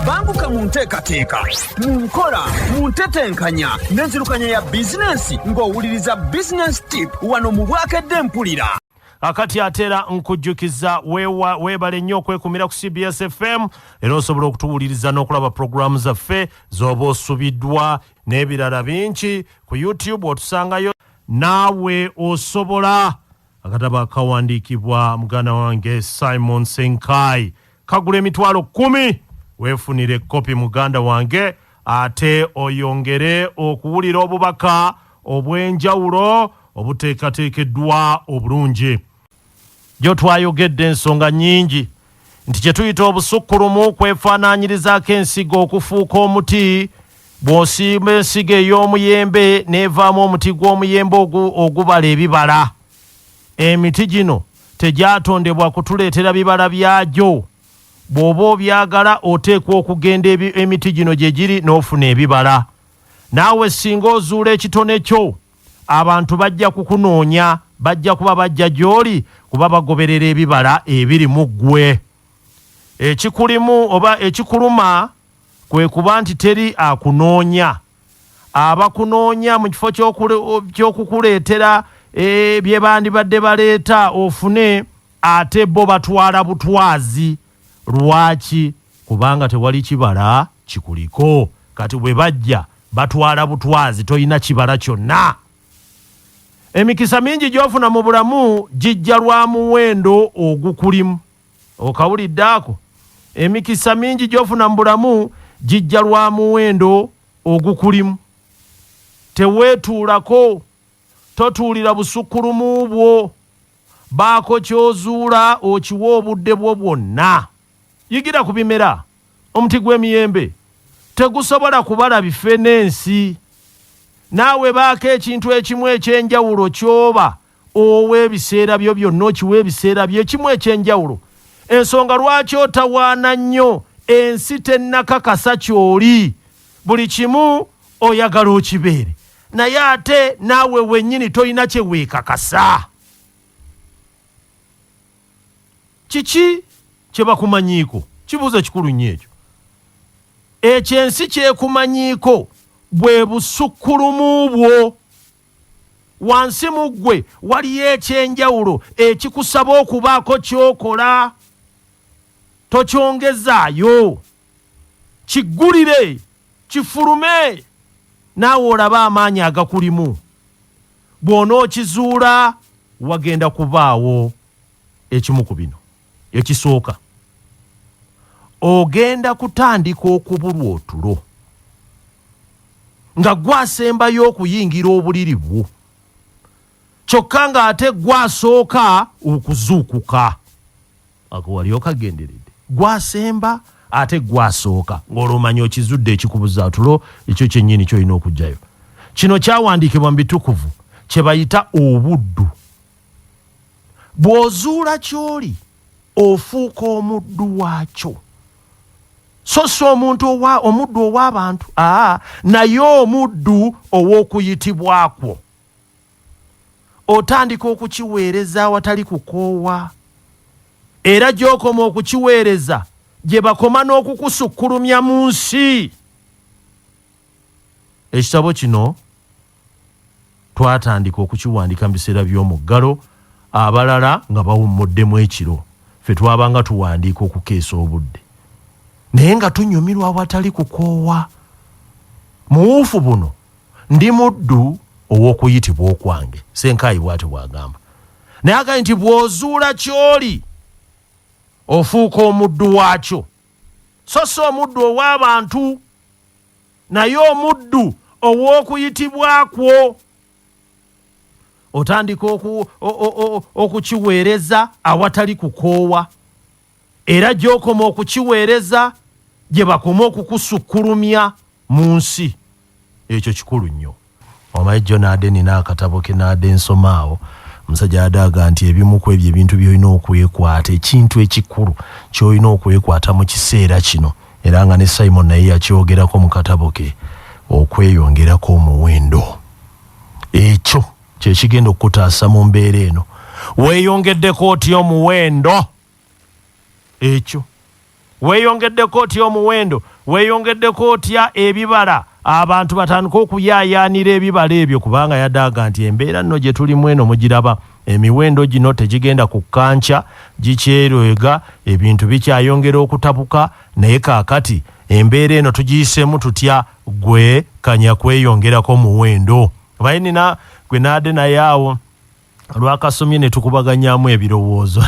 banguka mu nteekateeka mu nkola mu ntetenkanya n'enzirukanya ya bizinensi ng'owuliriza bizinensi tip wano mu bwakedde mpulira akati ate era nkujjukiza weebale nnyo okwekumira ku cbs fm era osobola okutuwuliriza n'okulaba pulogulaamu zaffe z'oba osubiddwa n'ebirala bingi ku youtube otusangayo naawe osobola Akatabo akawandiikibwa muganda wange Simon Senkai kagula emitwalo kkumi. Weefunire ekkopi muganda wange ate oyongere okuwulira obubaka obw'enjawulo obuteekateekeddwa obulungi. Jjo twayogedde ensonga nnyingi nti kye tuyita obusukkulumu kwefaanaanyirizaako ensigo okufuuka omuti bw'osimba ensigo ey'omuyembe n'evaamu omuti gw'omuyembe ogubala ebibala emiti gino tegyatondebwa kutuleetera bibala byagyo bw'oba obyagala oteekwa okugenda emiti gino gye giri n'ofuna ebibala naawe singa ozuula ekitone kyo Abantu bajja kukunoonya, bajja kuba bajja gy'oli kuba bagoberera ebibala ebiri mu ggwe. Ekikulimu oba ekikuluma kwe kuba nti teri akunoonya. Abakunoonya mu kifo ky'okukuleetera eh, bye bandibadde baleeta ofune, ate bo batwala butwazi. lwaki kubanga tewali kibala kikuliko kati bwe bajja batwala butwazi tolina kibala kyonna emikisa mingi gyofuna mu bulamu gijja lwa muwendo ogukulimu okawulidde ako emikisa mingi gyofuna mu bulamu gijja lwa muwendo ogukulimu teweetuulako totuulira busukkulumu bwo Baako ky'ozuula okiwe obudde bwo bwonna. Yigira ku bimera. Omuti gw'emiyembe tegusobola kubala bife n'ensi. Naawe baako ekintu ekimu eky'enjawulo ky'oba owa ebiseera byo byonna, okiwe ebiseera byo ekimu eky'enjawulo. Ensonga lwaki otawaana nnyo, ensi tennakakasa ky'oli. Buli kimu. oyagala okibeere naye ate naawe wenyini tolina kyeweekakasa kiki kyebakumanyiiko kibuuzo kikulu nnyo ekyo ekyo ensi kyekumanyiiko bwe busukkulumu bwo wansi mu ggwe waliyo ekyenjawulo ekikusaba okubaako kyokola tokyongezaayo kiggulire kifulume naawe olabe amaanyi agakulimu bw'onookizuula wagenda kubaawo ekimu ku bino ekisooka ogenda kutandika okubulwa otulo nga gwasembayo okuyingira obuliri bwo kyokka ng'ate gwasooka okuzuukuka Ako wali okagenderedde? Gwe asemba ate gwe asooka ng'olwo omanya okizudde ekikubuza tulo ekyo kyennyini kyolina okugyayo. Kino kyawandiikibwa mu bitukuvu kye bayita obuddu. Bw'ozuula ky'oli ofuuka omuddu waakyo. So si omuntu owa omuddu ow'abantu aa naye omuddu ow'okuyitibwa kwo. otandika okukiweereza awatali kukoowa era gy'okoma okukiweereza gye bakoma n'okukusukkulumya mu nsi ekitabo kino twatandika okukiwandika mu biseera by'omuggalo abalala nga bawummuddemu ekiro ffe twabanga tuwandiika okukeesa obudde naye nga tunyumirwa awatali kukoowa muwuufu buno ndi muddu ow'okuyitibwa okwange senkaayi bw'atyo bw'agamba naye agambe nti bw'ozuula ky'oli ofuuka omuddu waakyo so si omuddu ow'abantu naye omuddu ow'okuyitibwa kwo otandika okukiweereza awatali kukoowa Era gy'okoma okukiweereza gye bakoma okukusukkulumya mu nsi. Ekyo kikulu nnyo. Omanyi, jjo naade nina akatabo ke naade nsoma awo, omusajja yade aga nti ebimu ku ebyo ebintu by'olina okwekwata, ekintu ekikulu ky'olina okwekwata mu kiseera kino, era nga ne Simon naye yakyogerako mu katabo ke, okweyongerako omuwendo. Ekyo kye kigenda okukutaasa mu mbeera eno. Weeyongeddeko otya omuwendo? ekyo weeyongeddeko otya omuwendo weeyongeddeko otya ebibala abantu batandika okuyaayaanira ebibala ebyo kubanga yadaaga nti embeera nno gye tulimu eno mugiraba emiwendo gino tegigenda ku kkanca gikyeroega ebintu bikyayongera okutabuka naye kaakati embeera eno tugiyiseemu tutya gwe kanya kweyongerako muwendo baye nina gwe naade naye awo lwakasomye ne tukubaganyamu ebirowoozo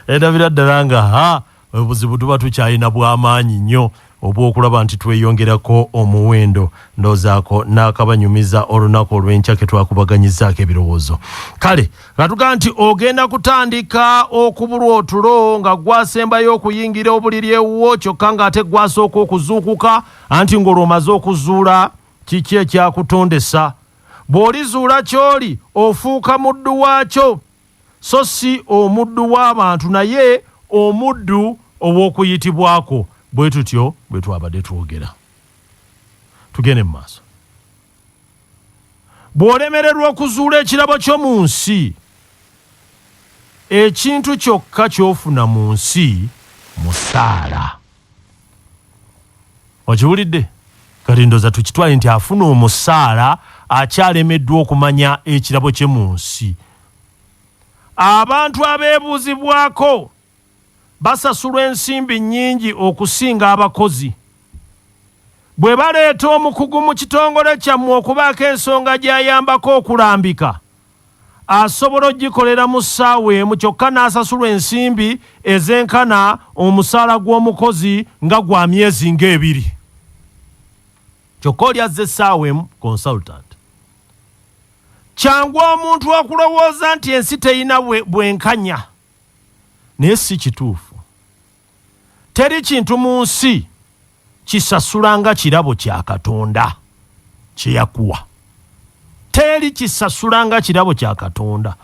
endabira ddala nga ha obuzibu tuba tukyalina bw'amaanyi nnyo obw'okulaba nti tweyongerako omuwendo ndoozaako n'akabanyumiza olunaku olw'enkya ke twakubaganyizaako ebirowoozo kale nga tugamba nti ogenda kutandika okubulwa otulo nga gwasembayo okuyingira obuliri ewuwo kyokka ng'ate gwasooka okuzuukuka anti ng'olwomaze okuzuula kiki ekyakutondesa Bw'olizuula ky'oli, ofuuka muddu waakyo, so si omuddu w'abantu, naye omuddu ow'okuyitibwa kwo. Bwe tutyo bwe twabadde twogera. Tugende mu maaso. Bw'olemererwa okuzuula ekirabo kyo mu nsi, ekintu kyokka ky'ofuna mu nsi musaala. okiwulidde kati ndoza tukitwale nti afuna omusaala akyalemeddwa okumanya ekirabo kye mu nsi abantu abeebuuzibwako basasulwa ensimbi nnyingi okusinga abakozi bwe baleeta omukugu mu kitongole kyammwe okubaako ensonga gy'ayambako okulambika asobola okugikolera mu ssaawa emu kyokka n'asasulwa ensimbi ezenkana omusaala gw'omukozi nga gwa myezi ng'ebiri kyokka oli azza essaawa emu consultant kyangu omuntu okulowooza nti ensi terina bwenkanya naye si kituufu Teri kintu mu nsi kisasula nga kirabo kya Katonda kye yakuwa. Teri kisasula nga kirabo kya Katonda.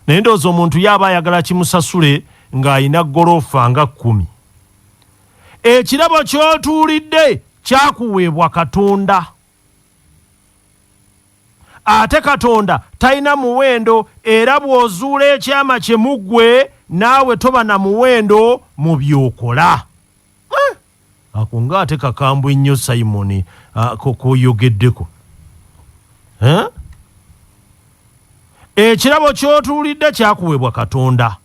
Naye ndowooza omuntu yaaba ayagala kimusasule ng'alina goloofa nga kkumi. Ekirabo ky'otuulidde kyakuweebwa Katonda. ate katonda talina muwendo era bw'ozuula ekyama kye mu ggwe naawe toba na muwendo mu by'okola eh, ako nga ate kakambwe nnyo simoni ah, koyogeddeko eh? ekirabo ky'otuulidde kyakuweebwa katonda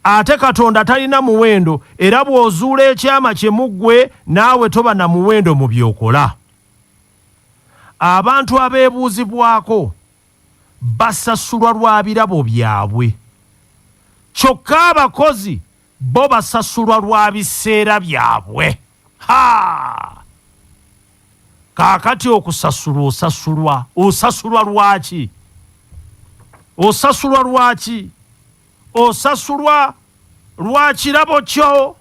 ate katonda talina muwendo era bw'ozuula ekyama kye mu ggwe naawe toba na muwendo mu by'okola Abantu abeebuuzibwako basasulwa lwa birabo byabwe kyokka abakozi bo basasulwa lwa biseera byabwe. Ha! Kaakati okusasulwa osasulwa, osasulwa lwaki? Osasulwa lwaki? Osasulwa lwa kirabo kyo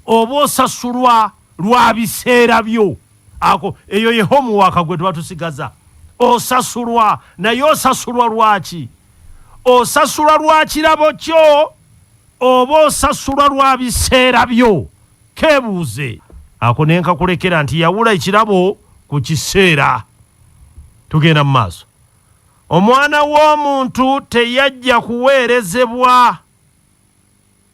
oba osasulwa lwa biseera byo? Ako eyo ye homuwaka gwe twatusigaza. Osasulwa naye osasulwa lwaki? Osasulwa lwa kirabo kyo oba osasulwa lwa biseera byo? Kebuuze ako ne nkakulekera nti yawula ekirabo ku kiseera. Tugenda mu maaso. Omwana w'omuntu teyajja kuweerezebwa,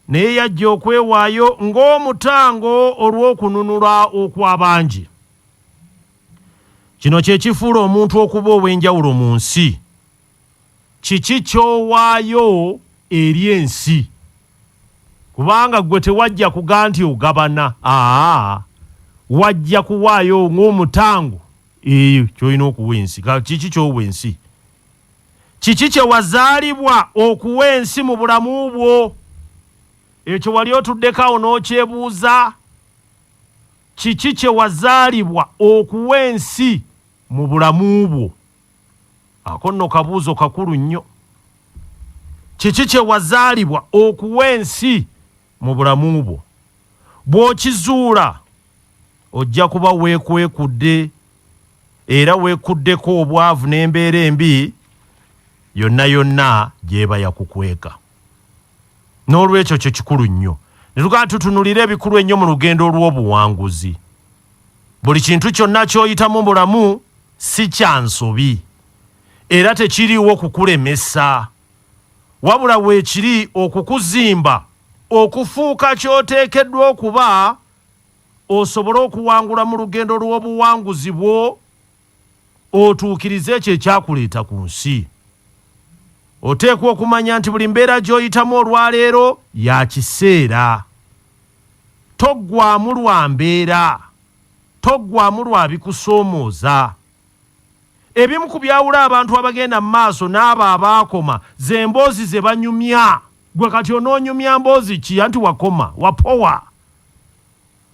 naye yajja okwewaayo ng'omutango olw'okununula okw'abangi. Kino kye kifuula omuntu okuba ow'enjawulo mu nsi. Kiki ky'owaayo eri ensi? Kubanga ggwe tewajja kuga nti ogabana, aa, wajja kuwaayo ng'omutango. Eyo kyolina okuwa ensi. Kiki kyowa ensi? Kiki kye wazaalibwa okuwa ensi mu bulamu bwo? Ekyo wali otuddeko awo n'okyebuuza? Kiki kye wazaalibwa okuwa ensi mu bulamu bwo? Ako nno kabuuzo kakulu nnyo. Kiki kye wazaalibwa okuwa ensi? mu bulamu bwo. Bw'okizuula, ojja kuba weekwekudde era weekuddeko obwavu n'embeera embi yonna yonna gy'eba yakukweka. N'olwekyo kyo kikulu nnyo ne tugamba tutunulire ebikulu ennyo mu lugendo lw'obuwanguzi. Buli kintu kyonna ky'oyitamu mu bulamu si kya nsobi era tekiriiwo kukulemesa. Wabula weekiri okukuzimba okufuuka ky'oteekeddwa okuba osobole okuwangula mu lugendo lw'obuwanguzi bwo otuukirize ekyo ekyakuleeta ku nsi. Oteekwa okumanya nti buli mbeera gy'oyitamu olwaleero ya kiseera. Toggwaamu lwa mbeera, toggwaamu lwa bikusoomooza. Ebimu ku byawula abantu abagenda mu maaso n'abo abaakoma ze mboozi ze banyumya. Ggwe kati onoonyumya mboozi ki anti wakoma, wapowa?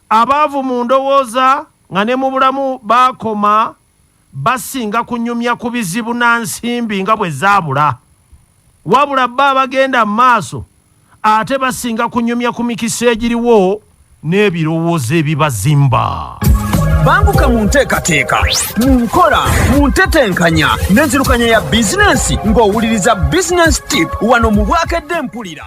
Abaavu mu ndowooza nga ne mu bulamu baakoma basinga kunyumya ku bizibu na nsimbi nga bwe zaabula. Wabula bo abagenda mu maaso ate basinga kunyumya ku mikisa egiriwo n'ebirowoozo ebibazimba. Banguka mu nteekateeka, mu nkola, mu ntetenkanya n'enzirukanya ya bizinensi ng'owuliriza Business Tip wano mu Bwakedde Mpulira.